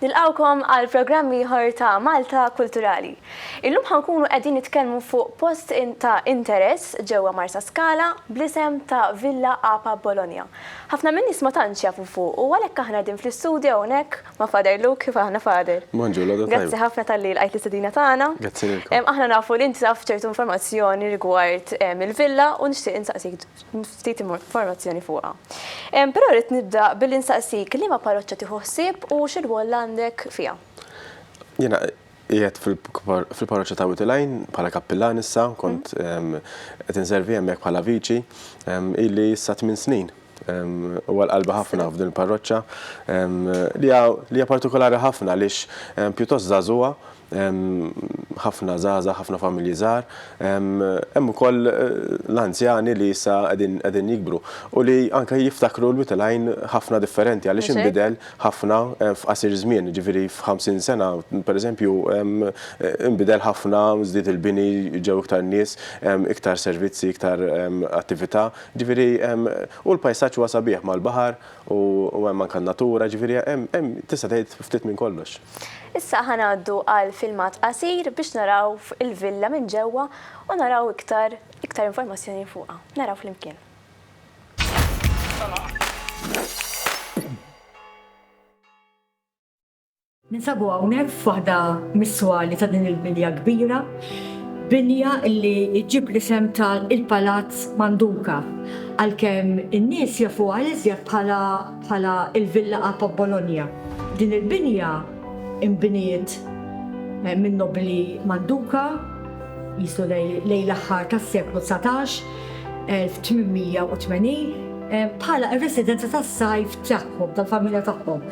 Nilqgħukom għal programm ieħor ta' Malta Kulturali. Illum ħa nkunu qegħdin nitkellmu fuq post ta' interess ġewwa Marsaskala bl-isem ta' Villa Apa Bologna. Ħafna min-nies ma tantx jafu fuqu għalhekk aħna qegħdin fl-istudju hawnhekk ma' Father Luke, kif aħna Father? Bonġur, l-għodu tajba. Grazzi ħafna talli lqajt l-istedina tagħna. Grazzi lilkom. Aħna nafu li inti taf ċertu informazzjoni rigward il-villa u nixtieq insaqsik ftit informazzjoni fuqha. Però rrid nibda billi nsaqsik liema parroċċa tieħu ħsieb u xi rwol għandek fiha? Jiena qiegħed fil-parroċċa ta' Wied il-Għajn bħala kappillan issa, kont qed inservi hemmhekk bħala viċi, ili issa tmien snin. Huwa l-qalba ħafna f'din il-parroċċa li hija partikolari ħafna għaliex pjuttost żagħżugħa hemm ħafna żgħażagħ, ħafna familji żgħar, hemm ukoll l-anzjani li issa qegħdin jikbru u li anke jiftakru l-wied il-għajn ħafna differenti għaliex inbidel ħafna f'qasir żmien, jiġifieri f'ħamsin sena pereżempju inbidel ħafna, żdied il-bini, ġew iktar nies, iktar servizzi, iktar attività, jiġifieri u l-pajsaġġ huwa sabiħ mal-baħar, U hemm anke n-natura, ġifieri hemm tista' tgħid ftit minn kollox. Issa ħa ngħaddu għal filmat qasir biex naraw il-villa minn ġewwa u naraw iktar iktar informazzjoni fuqha. Naraw flimkien. Ninsabu hawnhekk f'waħda mis-swali ta' din il-binja kbira, binja li ġġib l-isem ta' il-Palazz Manduca, għalkemm in-nies jafuha iżjed bħala bħala il-Villa A ta' Bologna. Din il-binja inbniet min-nobbli Manduca, qisu lejn l-aħħar tas-seklu dsatax, 1880 bħala r-residenza tas-sajf tagħhom, tal-familja tagħhom,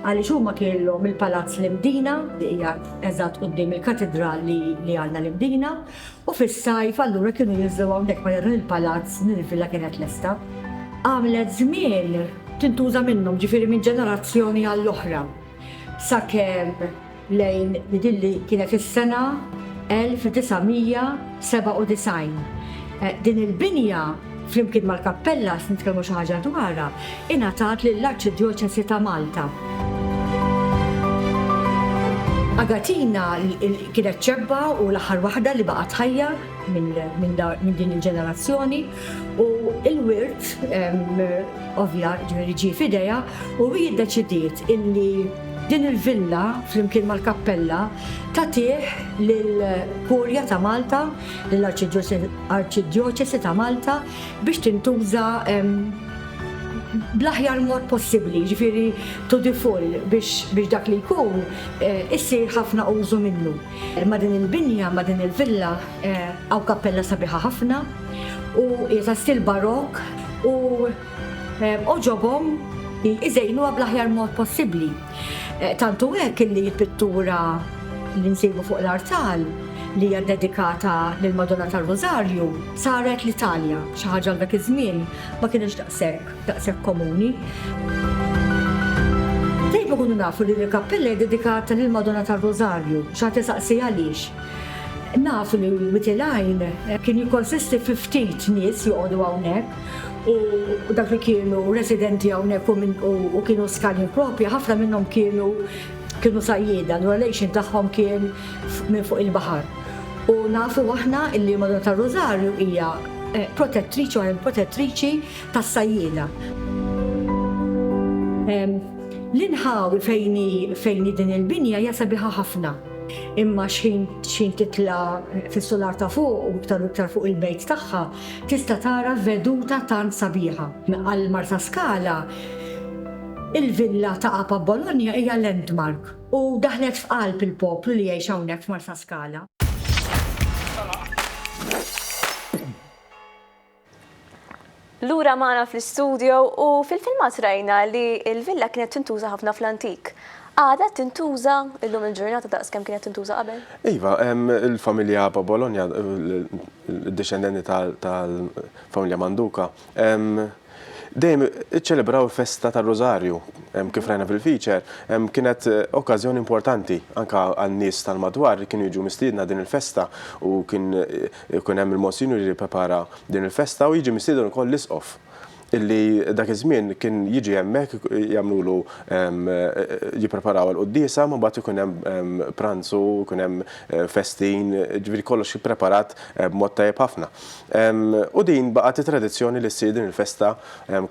għaliex huma kienlhom il-Palazz l-Imdina li qiegħed eżatt quddiem il-Katidral li għandna l-Imdina u fis-sajf allura kienu jinżlu hawnhekk meta dan il-palazz, din il-villa kienet lesta. Għamlet żmien tintuża minnhom, ġifieri minn ġenerazzjoni għall-oħra, sakemm lejn din li kienet is-sena 1997. Din il-binja, flimkien mal-kappella se nitkellmu xi ħaġa dwarha, ingħatat lill-Arċidjoċesi ta' Malta. Agatina kienet xebba u l-aħħar waħda li baqgħet ħajja minn din il-ġenerazzjoni u l-wirt ovvja ġifieri ġie f'idejha u hi ddeċidiet illi Din il-villa, flimkien mal-kappella, tagħtih lill-Kurja ta' Malta, lill-Arċidjoċesi ta' Malta, biex tintuża bl-aħjar mod possibbli, jiġifieri to the full, biex dak li jkun isir ħafna użu minnu. Ma' din il-binja, ma' din il-villa, hawn kappella sabiħa ħafna u hija ta' stil Barokk u, għoġobhom iżejnuha bl-aħjar mod possibbli. Tant hu hekk illi l-pittura li nsibu fuq l-artal li hija ddedikata lill-Madonna tar-Rużarju saret l-Italja, xi ħaġa għal dak iż-żmien ma kinitx daqshekk daqshekk komuni. Dejjem ikunu nafu li din il-kappella hija ddedikata lill-Madonna tar-Rużarju. Xi ħadd isaqsi għaliex? Nafu li Wied il-Għajn kien jikkonsisti fi ftit nies joqogħdu hawnhekk. u dak li kienu residenti hawnhekk u kienu skani propja, ħafna minnhom kienu kienu sajjieda, l relation tagħhom kien minn fuq il-baħar. U nafu aħna illi Madonna ta' Rosario hija eh, protettriċi u protettriċi tas-sajjieda. L-inħawi fejni fejni din il-binja hija sabiħa ħafna. Imma xħin xħin titla fis-solar ta' fuq u iktar iktar fuq il-bejt tagħha Tista' tara veduta tant sabiħa. Għal Marsaskala, il-villa ta' Apa Bologna hija landmark u daħlet f'qalb il-poplu li jgħix hawnhekk f'Marsaskala. Lura magħna fl-istudio u fil-filmat rajna li l-villa kienet tintuża ħafna fl-antik. Għadha tintuża illum il-ġurnata daqs kemm kienet tintuża qabel? Iva, il-familja Abba Bologna, id-dixxendenti tal-familja Manduka, dejjem iċċelebraw il-festa tar-Rużarju, kif rajna fil-feature, kienet okkażjoni importanti anke għan-nies tal-madwar li kienu jiġu mistiedna din il-festa u kien ikun hemm il-Monsinjur li jipprepara din il-festa u jiġi mistieden ukoll l-Isqof. illi dak iż-żmien kien jiġi hemmhekk jagħmlulu jippreparaw għal quddiesa ma mbagħad ikun hemm pranzu, ikun hemm eh, festin, ġifieri kollox ippreparat eh, b'mod tajjeb ħafna. U din baqgħet it-tradizzjoni li ssir din il-festa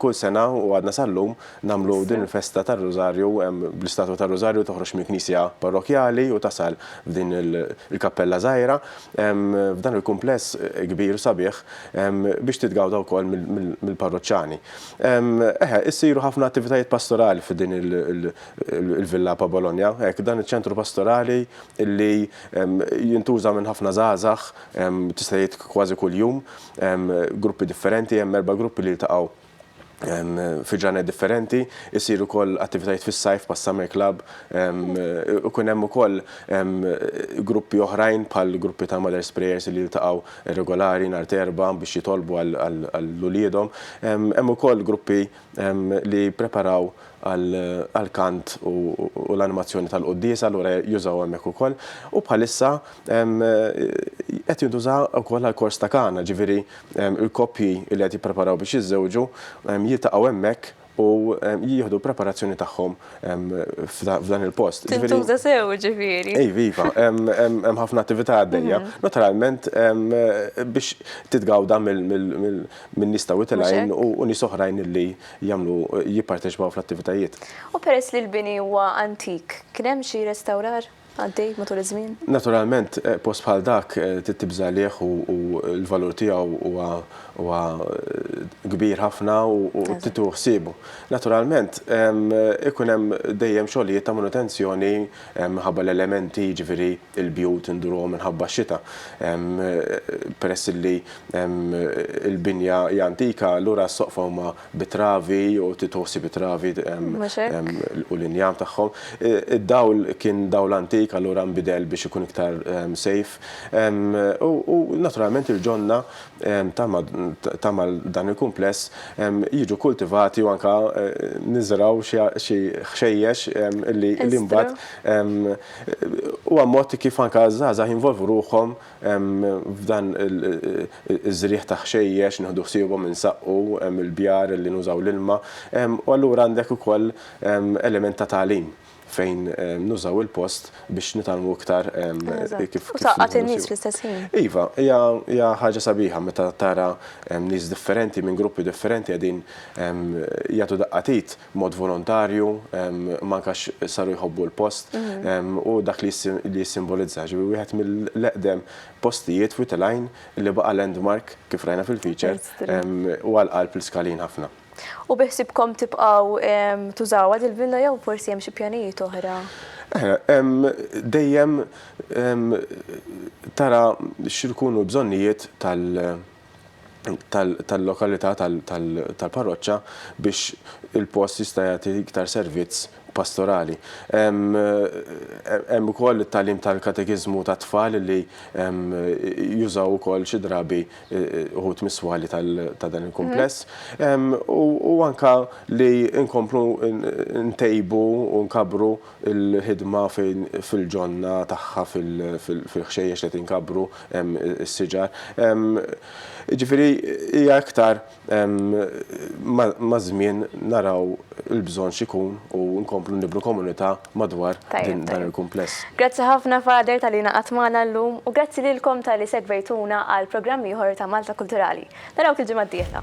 kull sena u għadna sal-lum nagħmlu din il-festa tar-Rużarju bl-istatwa tar-Rużarju toħroġ mill-Knisja Parrokjali u tasal f'din il-kappella żgħira f'dan il-kumpless kbir sabiħ biex titgawda wkoll mill-parroċċani. Eħe, issiru ħafna attivitajiet pastorali fi din il-Villa Pa' Bologna, hekk, dan iċ-ċentru pastorali li jintuża minn ħafna żgħażagħ tista' tgħid kważi kuljum, gruppi differenti, hemm erba' gruppi li jiltaqgħu fi ġranet differenti, isiru wkoll attivitajiet fis-sajf pa' Summer Club, ikun hemm ukoll gruppi oħrajn bħal gruppi ta' Mother's Prayers li jiltaqgħu regolari nhar t'Erbgħa biex jitolbu għal uliedhom. Hemm ukoll gruppi li jippreparaw għall-kant u l-animazzjoni tal-quddiesa, allura jużaw hemmhekk ukoll. U bħalissa qed jintuża wkoll għall-kors ta' Kana, ġifieri l-koppji li qed jippreparaw biex jiżżewġu jiltaqgħu hemmhekk u jieħdu l-preparazzjoni tagħhom f'dan il-post. Tintuża sew, ġifieri. Iva, iva. Hemm ħafna attività għaddejja. Naturalment biex titgawda minn nies ta' wied il-għajn u nies oħrajn li jagħmlu jipparteċipaw fl-attivitajiet. U peress li l-bini huwa antik, kien hemm xi restawrar għaddej matul iż-żmien? Naturalment, post bħal dak trid tibża' għalih u l-valur tiegħu huwa kbir ħafna u trid tieħu ħsiebu. Naturalment, ikun hemm dejjem xogħlijiet ta' manutenzjoni minħabba l-elementi, jiġifieri l-bjut indurhom minħabba x-xita, peress li l-binja hi antika, allura s-soqfa huma bi travi jew titosi bi travi u l-injam tagħhom. Id-dawl kien dawl antik, allura nbidel biex ikun iktar safe. U naturalment il-ġonna Tama dan il-kumpless jiġu kultivati u anke niżraw xi ħxejjex li mbagħad huwa mod kif anke żgħażagħ jinvolvu ruħhom f'dan iż-żrigħ ta' ħxejjex, nieħdu ħsiebhom insaqqu l-bjar li nużaw l-ilma u allura għandek ukoll element ta' tagħlim. fejn nużaw il-post biex nitalmu iktar kif. U taqqat in-nies fl-istess ħin. Iva, hija ħaġa sabiħa meta tara nies differenti minn gruppi differenti qegħdin jagħtu daqqa t'id b'mod volontarju, imma anke għax saru jħobbu l-post u dak li jissimbolizza. Ġifieri wieħed mill-eqdem postijiet f'Wied il-Għajn li baqa' landmark kif rajna fil-feature u għall-qalb l-iskalin ħafna. U biħsibkom tibqgħu tużawha dil-villa jew forsi hemm xi pjanijiet oħra? Dejjem tara x'ikunu l-bżonnijiet tal-lokalità tal-parroċċa biex il-post jista' jagħti iktar servizz pastorali. Hemm ukoll it-tagħlim tal-katekiżmu tat-tfal li jużaw ukoll xi drabi uħud mis-swali ta' dan il-kumpless. U anka li nkomplu ntejbu u nkabru l-ħidma fil-ġonna tagħha fil-ħxejjex li qed inkabru s-siġar. Ġifieri hija iktar Maż-żmien naraw il-bżonn x'ikun u nkomplu nibnu komunità madwar dan il-kumpless. Grazzi ħafna Father talli ingħaqadt magħna llum u grazzi lilkom talli segwejtuna għal programm ieħor ta' Malta Kulturali. Narawk il-ġimgħa d-dieħla.